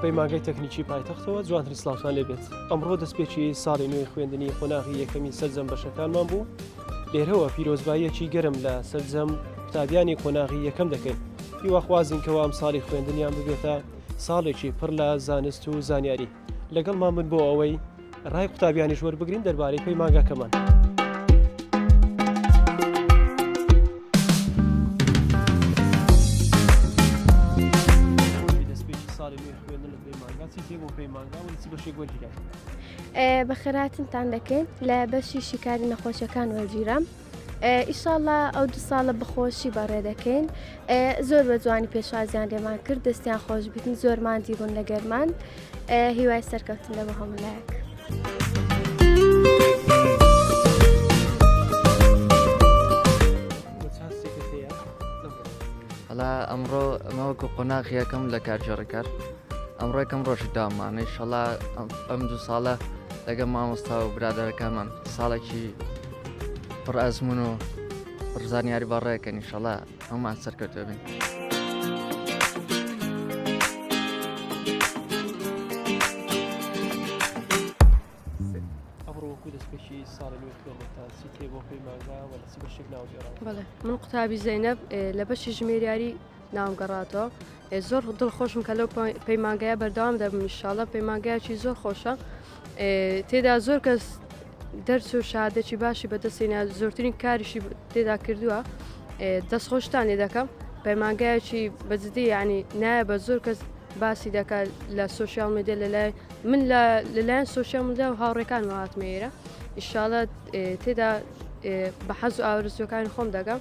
پەیمانگەی تەکنیکی پایتەختەوە جوانترین سلااوان لێبێت ئەمڕۆ دەستپێکی ساڵی نوێی خوێندنی قۆناغی یەکەمی سەرجەم بەشەکانمان بوو لێرەوە پیرۆزباییەکی گەرم لە سەرجەم قوتابیانی قۆناغی یەکەم دەکەین هیواخوازین کەوا ئەم ساڵی خوێندنیان ببێتە ساڵێکی پڕ لە زانست و زانیاری لەگەڵمان بن بۆ ئەوەی ڕای قوتابیانیش وەربگرین دەربارەی پێی ماگاکەمان. بە خێراتنتان دەکەین لە بەشی شیکاری نەخۆشیەکان وەرگیرام. ئیشاڵا ئەو دو ساڵە بەخۆشی بەڕێ دەکەین زۆر بە جوانی پێشوازیان لێمان کرد دەستیان خۆش بتین زۆر مادی بوون لە گەرمان هیوای سەرکەوتن لە بە هەمولایەک. ئەلا ئەمڕۆ مەوەکو قۆناغیەکەم لە کارجێڕکار ئەمڕۆکەم ڕۆژی دامانەی شەڵا ئەم دوو ساڵە لەگە مامۆستا و برادەرەکانمان ساڵێکی پڕ ئەزمون و پڕزانیاری بەڕێکە نیشەڵە هەمان سەرکەوتە بن. من قوتابی زینب لە بەشی ژمێریاری ناوم گەڕاتەوە زۆر دڵ خۆشم کە لەو پەیمانگەیە بەردەوام دەبم انشاالله پەیمانگایکی زۆر خۆشە تێدا زۆر کەس دەرچ و شادێکی باشی بەدەستینە زۆرترین کاریشی تێدا کردووە دەست خۆشتان لێ دەکەم پەیمانگایکی بەجددی ینی نایە بە زۆر کەس باسی دەکات لە سوسیال میدیا لەلای من لەلایەن سوسیال میدیا و هاوڕێکان وهاتمەیرە ئیشاالە تێدا بە حەز و ئاورزەکانی خۆم دەگەم